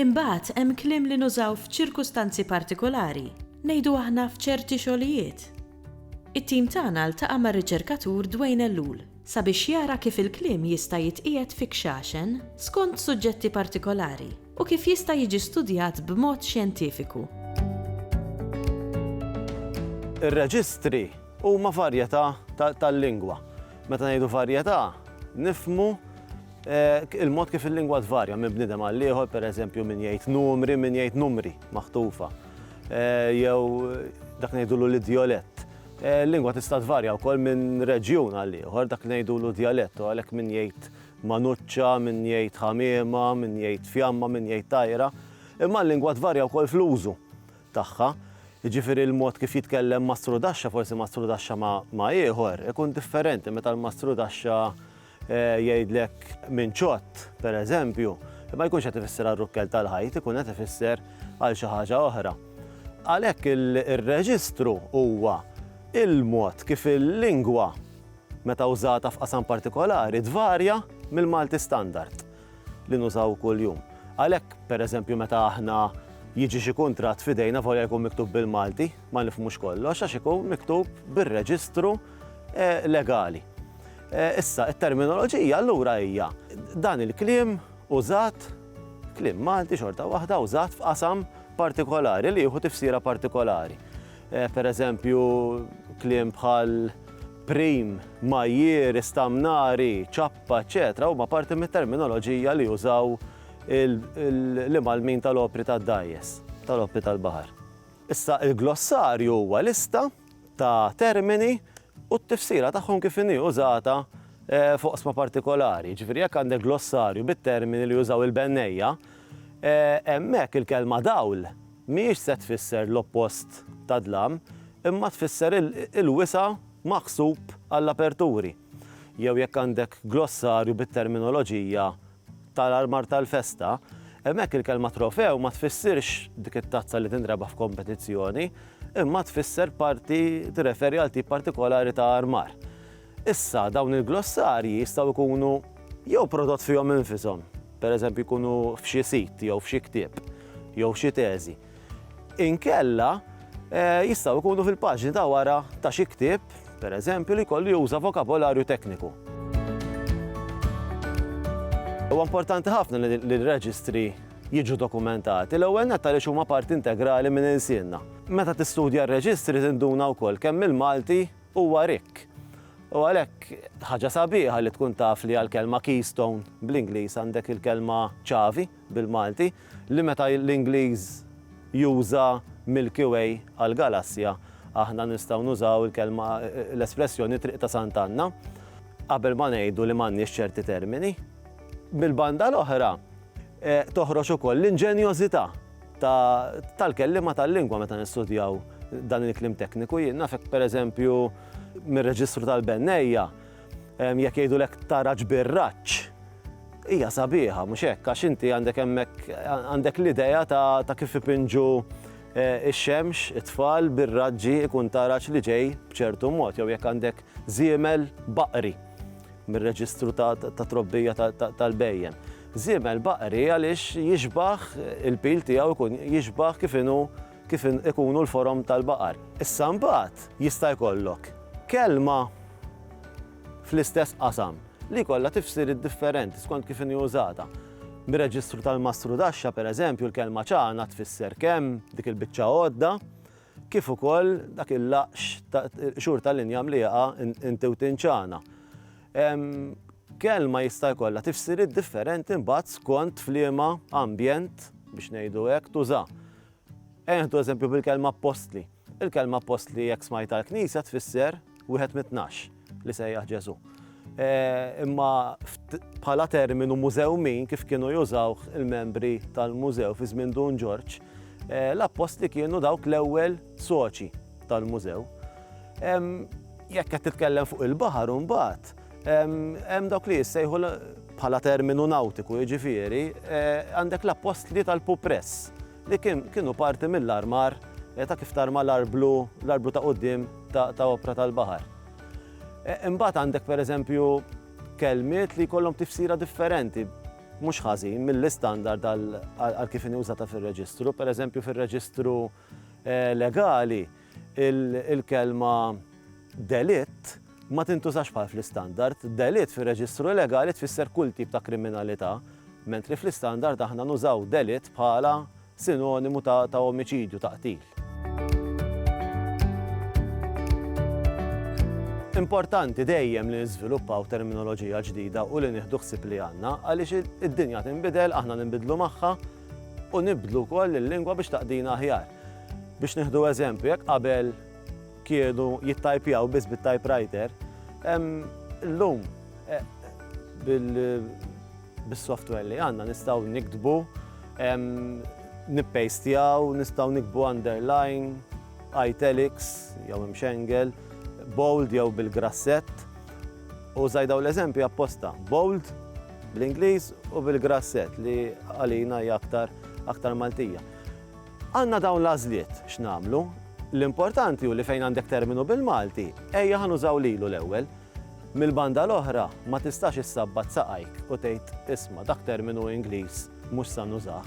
Imbagħad hemm kliem li nużaw f'ċirkustanzi partikolari, ngħidu aħna f'ċerti xogħlijiet. It-tim tagħna ltaqa' mar-riċerkatur Dwayne Ellul sabiex jara kif il-kliem jista' jitqiegħed fi kxaxen skont suġġetti partikolari u kif jista' jiġi studjat b'mod xjentifiku. Ir-reġistri huma varjetà tal-lingwa. Meta ngħidu varjetà, nifhmu Il-mod kif il-lingwa tvarja minn bniedem għal ieħor, pereżempju min jgħid numri, min jgħid numri maħtufa, jew dak ngħidulu l-idjolett. Il-lingwa tista' tvarja wkoll minn reġjun għal ieħor, dak ngħidulu djalett, u għalhekk min jgħid manuċċa, min jgħid ħamiema, min jgħid fjamma, min jgħid tajra. Imma l-lingwa tvarja wkoll fl-użu tagħha. Jiġifieri l-mod kif jitkellem mastrudaxxa, forsi mastrudaxxa ma' ieħor, ikun differenti meta l-mastrudaxxa jgħidlek minn ċott, per eżempju, ma jkunx qed ifisser għar-rukkel tal-ħajt, ikun qed ifisser għal xi ħaġa oħra. Għalhekk ir-reġistru huwa l-mod kif il-lingwa, meta wżata f'qasam partikolari, tvarja mill-Malti standard li nużaw kuljum. Għalhekk, per eżempju, meta aħna jiġi xi kuntratt f'idejna volja jkun miktub bil-Malti, ma nifhmux kollox għax ikun miktub bir-reġistru legali. Issa, it-terminoloġija allura hija dan il-kliem użat, kliem Malti xorta waħda użat f'qasam partikolari li jieħu tifsira partikolari. Per eżempju, kliem bħal prim, majjier, istamnari, ċappa, eċċetera huma parti mit-terminoloġija li jużaw l-imgħallmin tal-opri tad-dgħajjes, tal-opri tal-baħar. Issa, il-glossarju huwa lista ta' termini u t-tifsira tagħhom kif inhi użata f'oqsma partikolari. Jiġifieri jekk għandek glossarju bit-termini li jużaw il-bennejja, hemmhekk il-kelma dawl mhijiex se tfisser l-oppost ta' dlam, imma tfisser il-wisa' maħsub għall-aperturi. Jew jekk għandek glossarju bit-terminoloġija tal-armar tal-festa, hemmhekk il-kelma trofew ma tfissirx dik it-tazza li tinrebaħ f'kompetizzjoni, imma tfisser parti, tirreferi għal tip partikolari ta' armar. Issa, dawn il-glossarji jistgħu jkunu jew prodott fihom infishom, pereżempju jkunu f'xi sit jew f'xi ktieb jew xi teżi, Inkella, jistgħu jkunu fil-paġni ta' wara ta' xi ktieb, pereżempju, li jkollu juża vokabolarju tekniku. Huwa importanti ħafna li r-reġistri jiġu dokumentati, l-ewwel nett għaliex huma parti integrali minn ilsienna. Meta tistudja r-reġistri tinduna wkoll kemm il-Malti huwa rikk. U għalhekk, ħaġa sabiħa li tkun taf li għall-kelma keystone, bl-Ingliż, għandek il-kelma ċavi. bil-Malti, li meta l-Ingliż juża Milky Way għall-galassja, aħna nistgħu nużaw il-kelma, l-espressjoni Triq ta' Sant'Anna, qabel ma ngħidu li m'għandniex ċerti termini. Mill-banda l-oħra, toħroġ ukoll l-inġenjożità tal-kelliema tal-lingwa meta nistudjaw dan il-kliem tekniku. Jien naf hekk, pereżempju, mir-reġistru tal-bennejja, Jekk jgħidulek tara ġbir raġġ, hija sabiħa, mhux hekk? Għax inti għandek hemmhekk għandek l-idea ta' kif ipinġu eh, ix-xemx, it-tfal bir-raġġi ikun taraġ li ġej b'ċertu mod, jew jekk għandek żiemel baqri mir-reġistru ta' trobbija tal-bejjem. Żiemel baqri għaliex jixbaħ il-pil tiegħu jkun jixbaħ kif inhu kif ikunu l-forom tal-baqar. Issa mbagħad jista' jkollok kelma fl-istess qasam li jkollha tifsiriet differenti skont kif inhi użata. Mir-reġistru tal-mastrudaxxa, pereżempju, l-kelma ċagħna tfisser kemm dik il-biċċa għodda kif ukoll dak il-laqx xhur tal-injam li jaqa' inti u tinċana. Kelma jista' jkollha tifsiriet differenti mbagħad skont f'liema ambjent biex ngħidu hekk tuża. Ejja nieħdu eżempju bil-kelma appostli. Il-kelma appostli jekk smajta l-Knisja tfisser wieħed mit-tnax li sejjaħ Ġesu. E, imma bħala terminu mużew min kif kienu jużaw il-membri tal-mużew fi żmien Dun Ġorġ, e, l-appostli kienu dawk l-ewwel soċi tal-mużew. Jekk qed titkellem fuq il-baħar mbagħad, Hemm dawk li jissejħu bħala terminu nawtiku, jiġifieri għandek l-appostli tal-pupress li kienu parti mill-armar ta' kif tarma l-arblu, l-arblu ta' quddiem ta' opra tal-baħar. Imbagħad għandek pereżempju kelmiet li jkollhom tifsira differenti mhux ħażin mill-istandard għal kif inhi użata fir-reġistru, pereżempju fir-reġistru legali il-kelma delitt ma tintużax bħal fl-Istandard. Delitt fir-Reġistru Legali tfisser kull tip ta' kriminalità, mentri fl-Istandard aħna nużaw delitt bħala sinonimu ta' omiċidju, ta' qtil. Importanti dejjem li niżviluppaw terminoloġija ġdida u li nieħdu ħsieb li għandna għaliex id-dinja tinbidel, aħna ninbidlu magħha, u nibdlu wkoll il-lingwa biex taqdina aħjar. Biex nieħdu eżempju, jekk qabel kienu jittajpjaw biss bit-typewriter, illum bis-software li għandna nistgħu niktbu, nippejstjaw, nistgħu niktbu underline, italics jew imxengel, bold jew bil-grassett. U żgħid dawn l-eżempji apposta. Bold Bl-Ingliż u bil-Grasset li għalina hija aktar aktar Maltija. Għandna dawn l-għażliet x'namlu. L-importanti hu li fejn għandek terminu bil-Malti, ejja ħanużaw lilu l-ewwel. Mill-banda l-oħra ma tistax issabbat saqajk u tgħid isma' dak terminu Ingliż mhux sa nużah.